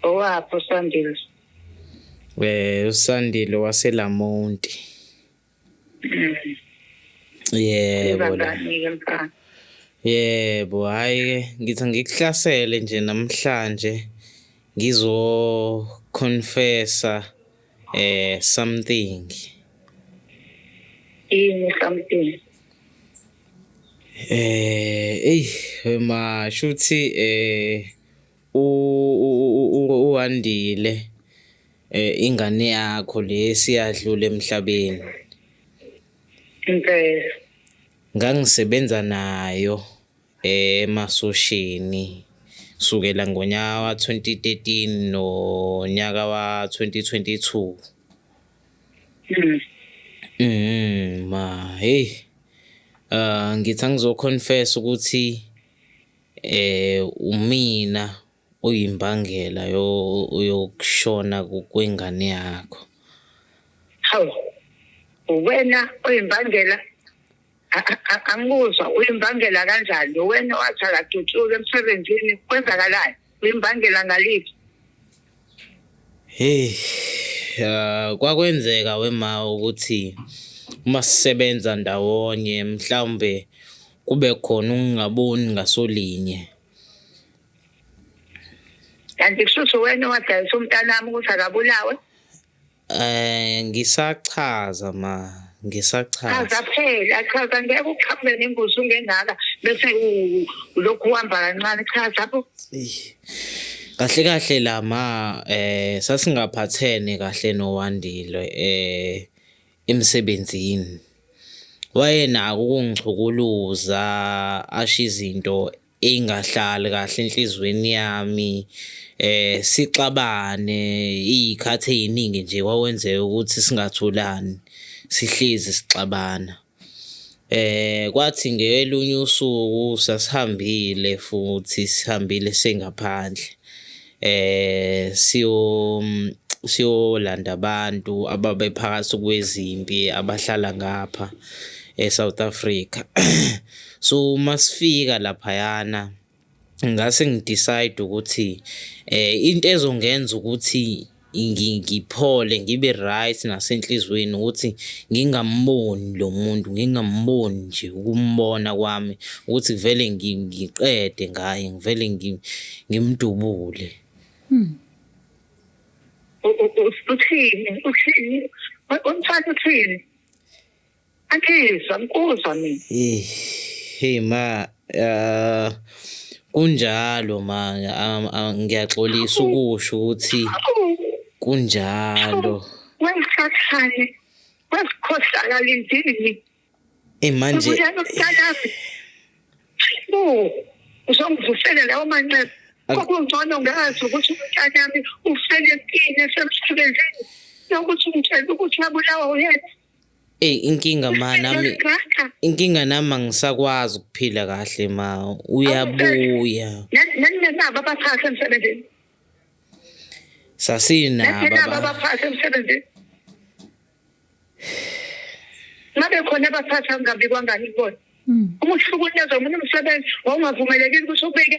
Owapho Sandile. Eh uSandile waseLamonti. Mm. Yebo la. Yebo hayi ke ngithi ngikuhlasele nje namhlanje ngizo confessa eh something. Ini something? Eh, ey, ma shuthi eh UWandile ingane yakho le siyadlula emhlabeni. Impela. Ngangisebenza nayo emasosheni kusukela ngonyaka wa-2013 nonyaka wa-2022. Mm. Mm, ma hey. Uh ngithi angizoconfess ukuthi Umina oyimbangela yokushona kwengane yakho. Hawu, uwena oyimbangela? Angikuzwa, uyimbangela kanjani? Uwena owathi akadutshulwe emsebenzini, kwenzakalani? Uyimbangela ngaliphi? Hheyi ah, kwakwenzeka wema ukuthi uma sisebenza ndawonye mhlawumbe kube khona ukungaboni ngasolinye. Kanti kushuthi uwena owadayisa umntanami ukuthi akabulawe? Eh ngisachaza ma ngisachaza. Chaza phela chaza ngeke uqhaphule nembuzi ungengaka bese lokhu uhamba kancane chaza bo. Kahle kahle la ma eh sasingaphathene kahle noWandile eh emsebenzini. Wayenako ukungichukuluza asho izinto ingahlali kahle enhlizweni yami eh sixabane izikhathi eziningi nje kwakwenzeka ukuthi singatholani sihlezi sixabana eh kwathi ngelunye usuku sasihambile futhi sihambile sengaphandle eh siyo siyolanda abantu ababephakathi kwezimpi abahlala ngapha eSouth Africa so masifika laphayana ngase ngidecide ukuthi eh into ezongenza ukuthi ngiphole ngibe right nasenhliziyweni ukuthi ngingamboni lo muntu ngingamboni nje ukumbona kwami ukuthi vele ngiqede ngaye ngivele ngimdubule hmm. uthini uthini umthatha uthini Akhizwa ngikuzwa mina. Eh, hey ma, uh, kunjalo ma, um, uh, ngiyaxolisa ukusho ukuthi kunjalo. Wengisathane, wasikhohlakala indini. Eh manje. Ubuyana ukutalazi. Oh, uzongivusela lawo manxeba. Kokungcono ngazi ukuthi umntanami ufele empini esemsebenzini. Nokuthi umtshela ukuthi abulawa uyena. Eyi inkinga ma nami inkinga nami angisakwazi ukuphila kahle ma uyabuya. Naninabo abaphathi emsebenzini. Sasinabo. Naninabo abaphathi emsebenzini. Ngabe khona abaphathi angabikwangani kubona. Hmm. Uma uhlukunyezwa umuntu umsebenzi wawungavumelekile ukuthi ubike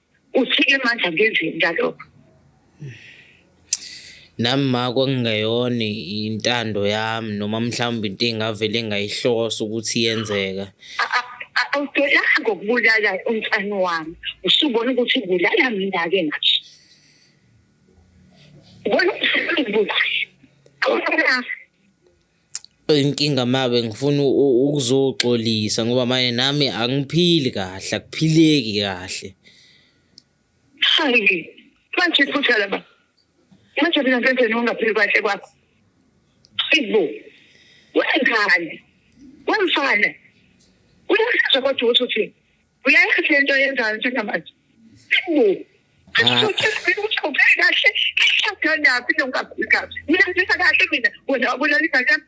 uthike manje angenzeni ngalokho nami ma kwakungeyona intando yami noma mhlawumbe into engavele ngayihlosa ukuthi yenzeka awudolanga ngokubulala umfana wami usubona ukuthi ubulala mina ke ngathi ubona ukuthi ubulala Inkinga mawe ngifuna ukuzoxolisa ngoba manje nami angiphili kahle akuphileki kahle. Hayi manje iphutha laba. Manje mina ngenzeni ungaphili kahle kwakho? Sibo. Wenzani? Wemfana. Uyasizwa kodwa ukuthi uthini? Uyayazi le nto yenzayo njengamanje. Hawu. Ashoke sibili ukuthi ubheke kahle kahlala naphi lo kakhulu kahle. Mina ngizisa kahle mina wena wabulala ingane yami.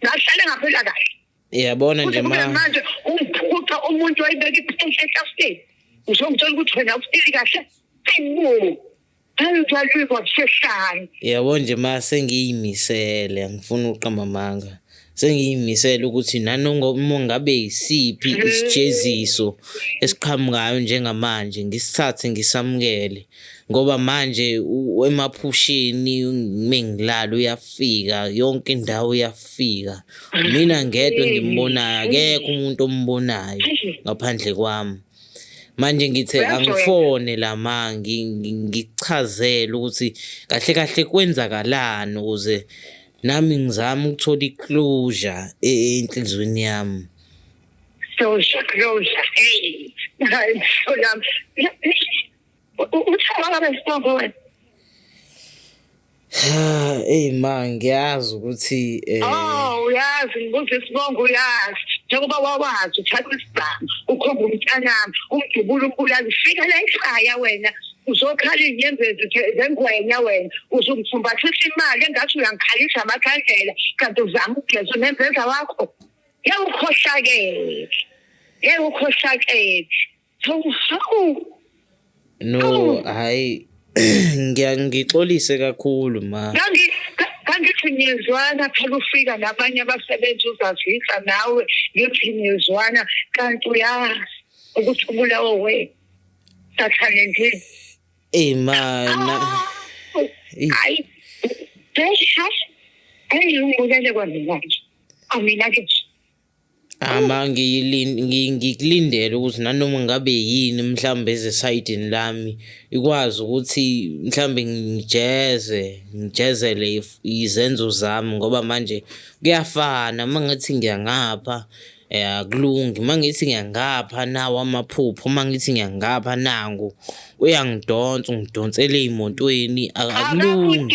Ngahlale ngaphela kahle. Yabona nje ma. Kuthi manje umphuca umuntu wayibeka iphenhla ehlafeni. Uzongitshela ukuthi wena ufike kahle. Hawu. yabo nje ma sengiyimisele angifuni uqamba amanga sengiyimisele ukuthi nanoma ngabe yisiphi isijeziso esiqhamukayo njengamanje ngisithathe ngisamukele ngoba manje emaphusheni mengilala uyafika yonke indawo uyafika mina ngedwa engimbonayo akekho umuntu ombonayo ngaphandle kwami manje ngithe angifone la ma ngichazele ukuthi kahle kahle kwenzakalani ukuze nami ngizama ukuthola i-closure e-, enhliziyweni yami closure closure hey hayi mhlolami eyi ma ngiyazi ukuthi um oh, uyazi ngibuza isibongo uyazi njengoba wawazi uthatha isibhamu ukhomba umntanami umdubula umbulali fika la ekhaya wena uzokhala inyembezi zengwenya wena uzumfumbathisa imali engathi uyangikhalisa amakhandlela kanti uzama ukugeza unembeza wakho yewukhohlakele yewukhohlakele No, hayi ngiyangixolise kakhulu ma. Kangithi niyezwana phela ufika nabanye abasebenzi uzazisa nawe ngithi niyezwana kanti uyazi ukuthi ubulawo wena. Sathane nje. Ey ma na. Hayi. Hey, hey, ngibulele kwamina nje. Amina ke. Ngikulindele ukuthi nanoma ngabe yini mhlawumbe ezesayidini lami ikwazi ukuthi mhlawumbe ngijeze, ngijezele izenzo zami ngoba manje kuyafana uma ngithi ngiya ngapha akulungi, uma ngithi ngiya ngapha nawa amaphupho, uma ngithi ngiya ngapha nangu. Uyangidonsa ungidonsela ey'motweni akulungi.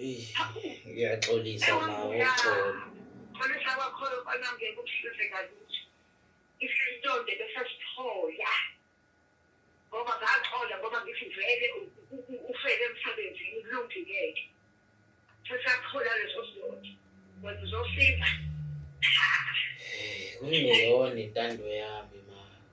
Ngiyaxolisa nawo uxolo. Xolisa kwakhona kona ngeke ukusize kalutho. Isintonde besasithola. Ngoba ngaxola ngoba ngithi vele ufele emsebenzini kulungileke. Sesathola leso sintonde. Wena uzosiza. Kungeyona intando yami.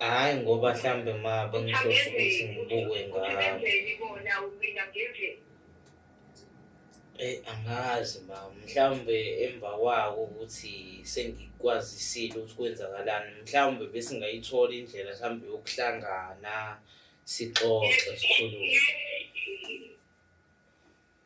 Hhayi ngoba mhlambe ma bengihlose ukuthi ngibuke ngabo. Eyi angazi ma mhlawumbe emva kwako ukuthi sengikwazisile ukuthi kwenzakalani mhlawumbe besingayithola indlela mhlawumbe yokuhlangana sixoxe sikhulume.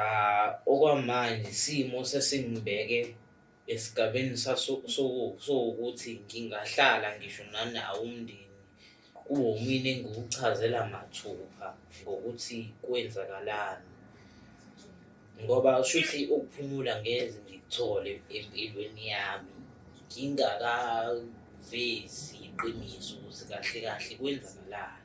Ah, okwamanje isimo sesingibeke esigabeni saso- soku- sokuthi ngingahlala ngisho nanawo umndeni kuwo mina engiwuchazela mathupha ngokuthi kwenzakalani ngoba ushuthi ukuphumula ngeze ngikuthole empilweni yami ngingakavezi iqiniso ukuthi kahle kahle kwenzakalani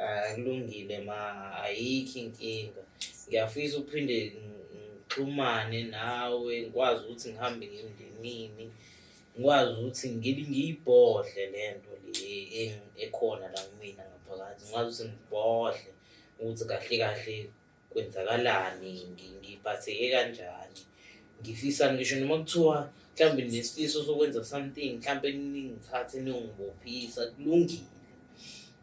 akulungile ma ayikho inkinga ngiyafisa uphinde ngixhumane nawe ngikwazi ukuthi ngihambe ngemndenini ngikwazi ukuthi ngiyibhodle le nto le ekhona la kumina ngaphakathi ngikwazi ukuthi ngibhodle ukuthi kahle kahle kwenzakalani ngiphatheke kanjani ngifisani ngisho noma kuthiwa mhlawumbe nesifiso sokwenza something mhlawumbe ningithathe ningibophisa kulungile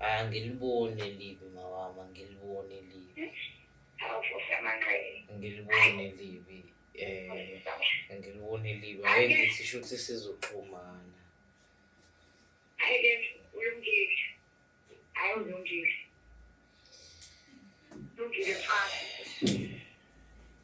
angiliboni elibi mawami angiliboni elibi angiliboni elibi eh angiliboni elibi ake ngithi shuthi sizoxhumana awulungile lungile mfana